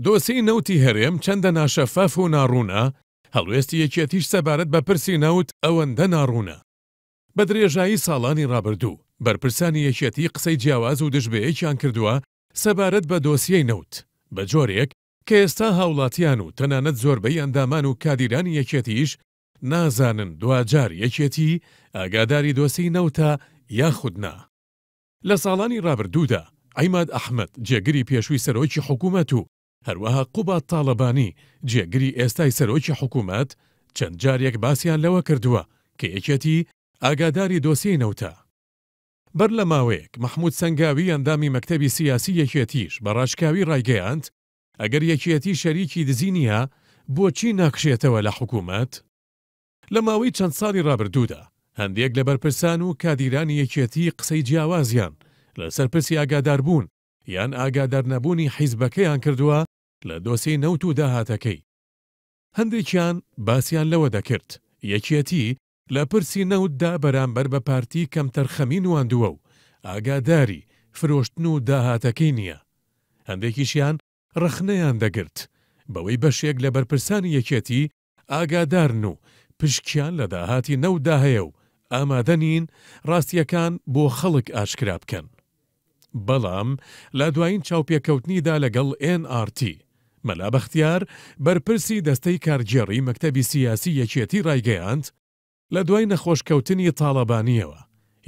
دۆسیەی نەوتی هەرێم چەندە ناشەفاف و ناڕوونە، هەڵوێستی یەکێتیش سەبارەت بە پرسی نەوت ئەوەندە ناڕوونە. بە درێژایی ساڵانی ڕابردوو، بەرپرسانی یەکێتی قسەی جیاواز و دژ بەیەکیان کردووە سەبارەت بە دۆسیەی نەوت، بە جۆرێک کە ئێستا هاوڵاتیان و تەنانەت زۆربەی ئەندامان و کادیرانی یەکێتیش نازانن دواجار یەکێتی ئاگاداری دۆسیەی نەوتە یاخود نا. لە ساڵانی رابردوودا عیماد ئەحمەد جێگری پێشووی سەرۆکی حکوومەت و هەروەها قوباد تاڵەبانی جێگری ئێستای سەرۆکی حکوومەت چەند جارێک باسیان لەوە کردووە کە یەکێتی ئاگاداری دۆسیەی نەوتە. بەر لە ماوەیەک مەحموود سەنگاوی ئەندامی مەکتەبی سیاسی یەکێتیش بە راشکاوی رایگەیاند ئەگەر یەکێتی شەریکی دزی نییە بۆچی ناکشێتەوە لە حکوومەت؟ لە ماوەی چەند ساڵی رابردوودا، هەندێک لە بەرپرسان و کادیرانی یەکێتی قسەی جیاوازیان لەسەر پرسی ئاگاداربوون یان ئاگادارنەبوونی حیزبەکەیان کردووە لە دۆسێی نەوت و داهاتەکەی. هەندێکیان باسیان لەوە دەکرد، یەکێتی لە پرسی نەوتدا بەرامبەر بە پارتی کەمتەرخەمی نواندووە و ئاگاداری فرۆشتن و داهاتەکەی نییە. هەندێکیشیان رەخنەیان دەگرت بەوەی بەشێک لە بەرپرسانی یەکێتی ئاگادارن و پشکیان لە داهاتی نەوتدا هەیە و ئامادە نین ڕاستییەکان بۆ خەڵک ئاشکرا بکەن. بەڵام لە دوایین چاوپێکەوتنیدا لەگەڵ ئێن ئاڕ تی، مەلا بەختیار، بەرپرسی دەستەی کارگێڕی مەکتەبی سیاسی یەکێتی ڕایگەیاند، لە دوای نەخۆشکەوتنی تاڵەبانییەوە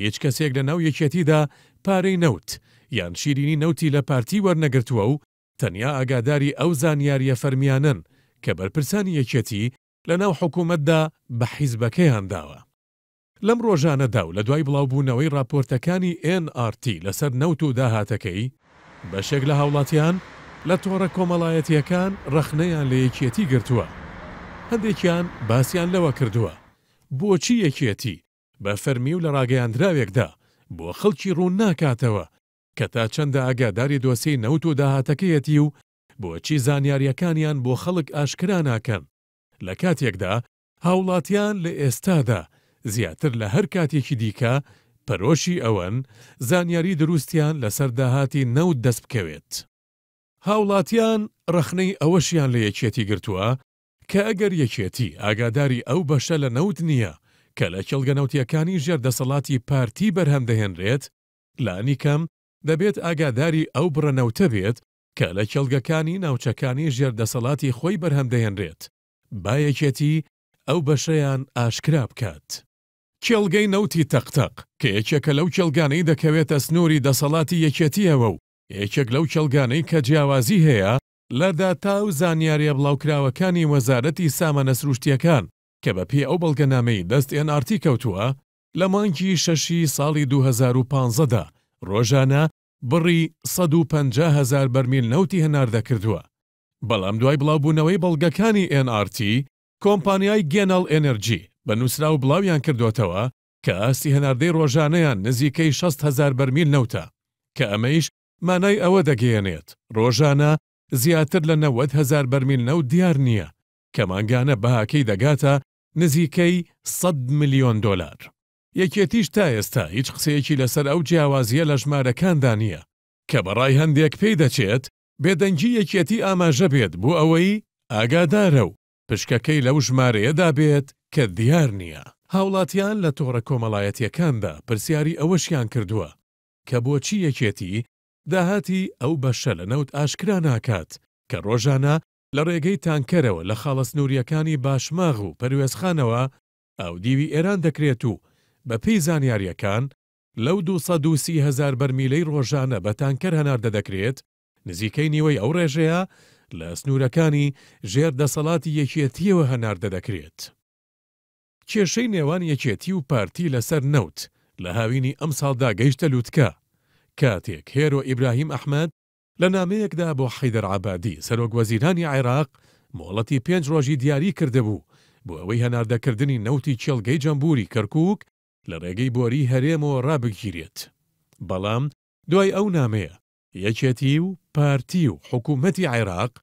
هیچ کەسێک لەناو یەکێتیدا پارەی نەوت یان شیرینی نەوتی لە پارتی وەرنەگرتووە و تەنیا ئاگاداری ئەو زانیارییە فەرمییانەن کە بەرپرسانی یەکێتی لەناو حکوومەتدا بە حیزبەکەیان داوە. لەم ڕۆژانەدا و لە دوای بڵاوبوونەوەی ڕاپۆرتەکانی ئێن ئاڕ تی لەسەر نەوت و داهاتەکەی، بەشێک لە هاوڵاتیان لە تۆڕە کۆمەڵایەتییەکان ڕەخنەیان لە یەکێتی گرتووە، هەندێکیان باسیان لەوە کردووە بۆچی یەکێتی بە فەرمی و لە ڕاگەیاندراوێکدا بۆ خەڵکی ڕوون ناکاتەوە کە تا چەندە ئاگاداری دۆسیەی نەوت و داهاتەکەیەتی و بۆچی زانیارییەکانیان بۆ خەڵک ئاشکرا ناکەن، لە کاتێکدا هاوڵاتیان لە ئێستادا زیاتر لە هەر کاتێکی دیکە پەرۆشی ئەوەن زانیاری دروستیان لەسەر داهاتی نەوت دەست بکەوێت. هاوڵاتیان ڕەخنەی ئەوەشیان لە یەکێتی گرتووە کە ئەگەر یەکێتی ئاگاداری ئەو بەشە لە نەوت نییە کە لە کێڵگە نەوتییەکانی ژێر دەسەڵاتی پارتی بەرهەم دەهێنرێت، لانیکەم دەبێت ئاگاداری ئەو بڕە نەوتە بێت کە لە کێڵگەکانی ناوچەکانی ژێر دەسەڵاتی خۆی بەرهەم دەهێنرێت، با یەکێتی ئەو بەشەیان ئاشکرا بکات. کێڵگەی نەوتی تەق تەق، کە یەکێکە لەو کێڵگانەی دەکەوێتە سنووری دەسەڵاتی یەکێتییەوە و یەکێک لەو کێڵگانەی کە جیاوازی هەیە، لە داتا و زانیارییە بڵاوکراوەکانی وەزارەتی سامانە سرووشتییەکان کە بەپێی ئەو بەڵگەنامەی دەست ئێن ئاڕ تی کەوتووە، لە مانگی شەشی ساڵی دوو هەزار و پازدە دا رۆژانە بڕی سەد و پەنجا هەزار بەرمیل نەوتی هەناردەکردووە، بەڵام دوای بڵاوبوونەوەی بەڵگەکانی ئێن ئاڕ تی، کۆمپانیای گێناڵ ئێنێرجی بە نووسراو بڵاویانکردۆتەوە کە ئاستی هەناردەی رۆژانەیان نزیکەی شەست هەزار بەرمیل نەوتە کە ئەمەیش مانای ئەوە دەگەیەنێت رۆژانە زیاتر لە نەوەد هەزار بەرمیل نەوت دیار نییە کە مانگانە بەهاکەی دەگاتە نزیکەی سەد ملیۆن دۆلار. یەکێتیش تا ئێستا هیچ قسەیەکی لەسەر ئەو جیاوازییە لە ژمارەکاندا نییە، کە بە ڕای هەندێک پێی دەچێت بێدەنگی یەکێتی ئاماژە بێت بۆ ئەوەی ئاگادارە و پشکەکەی لەو ژمارەیەدا بێت کە دیار نییە. هاوڵاتیان لە تۆڕە کۆمەڵایەتییەکاندا پرسیاری ئەوەشیان کردووە کە بۆچی یەکێتی داهاتی ئەو بەشە لە نەوت ئاشکرا ناکات کە ڕۆژانە لە ڕێگەی تانکەرەوە لە خاڵە سنوورییەکانی باشماغ و پەروێزخانەوە ئاودیوی ئێران دەکرێت و بەپێی زانیارییەکان لەو دوو سەد و سی هەزار بەرمیلەی ڕۆژانە بە تانکەر هەناردە دەکرێت، نزیکەی نیوەی ئەو ڕێژەیە لە سنوورەکانی ژێر دەسەڵاتی یەکێتییەوە هەناردە دەکرێت. کێشەی نێوان یەکێتی و پارتی لەسەر نەوت لە هاوینی ئەمساڵدا گەیشتە لووتکە، کاتێک هێرۆ ئیبراهیم ئەحمەد، لە نامەیەکدا بۆ حەیدەر عەبادی، سەرۆک وەزیرانی عێراق مۆڵەتی پێنج رۆژی دیاری کردبوو بۆ ئەوەی هەناردەکردنی نەوتی کێڵگەی جەمبوری کەرکوک لە رێگەی بۆریی هەرێمەوە رابگیرێت، بەڵام دوای ئەو نامەیە، یەکێتی و پارتی و حکومەتی عێراق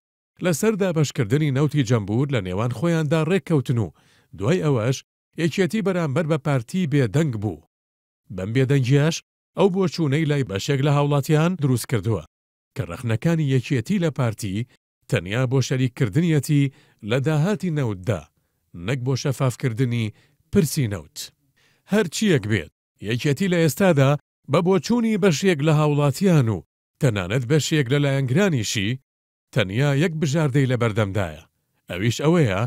لەسەر دابەشکردنی نەوتی جەمبور لە نێوان خۆیاندا رێککەوتن و دوای ئەوەش یەکێتی بەرامبەر بە پارتی بێدەنگ بوو، بەم بێدەنگییەش ئەو بۆچوونەی لای بەشێک لە هاوڵاتیان دروست کردووە کە ڕەخنەکانی یەکێتی لە پارتی تەنیا بۆ شەریک کردنیەتی لە داهاتی نەوتدا نەک بۆ شەفاف کردنی پرسی نەوت. هەرچییەک بێت یەکێتی لە ئێستادا بە بۆچوونی بەشێک لە هاوڵاتیان و تەنانەت بەشێک لە لایەنگرانیشی تەنیا یەک بژاردەی لە بەردەمدایە ئەویش ئەوەیە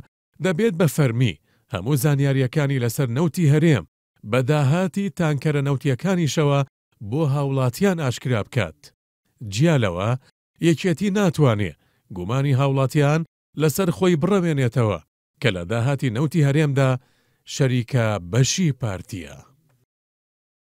دەبێت بە فەرمی هەموو زانیارییەکانی لەسەر نەوتی هەرێم بە داهاتی تانکەرە نەوتییەکانیشەوە بۆ هاوڵاتیان ئاشکرا بکات. جیا لەوە، یەکێتی ناتوانێ گومانی هاوڵاتیان لەسەر خۆی بڕەوێنێتەوە کە لە داهاتی نەوتی هەرێمدا شەریکە بەشی پارتییە.